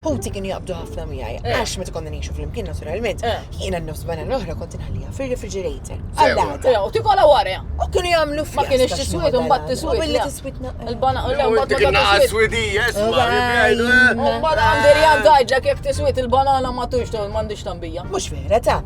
Ħuti kienu jaqbdu ħafna miegħi għax meta konna ngħixu flimkien naturalment, jiena n-nofs banana l-oħra kont inħalliha fir-refrigerator għall-għada. U tikolha wara. U kienu jagħmlu fjasta. Ma kienx tiswid u mbagħad tiswid. U billi tiswid naqra. Il-banana l-oħra mbagħad tiswid. Dik naqra swidija, isma' jgħidu. U mbagħad għandi rjad għidlek jekk tiswid il-banana ma tux tgħol m'għandix tambija. Mhux vera ta'.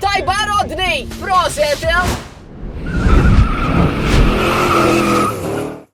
Tajba Rodney! Proset!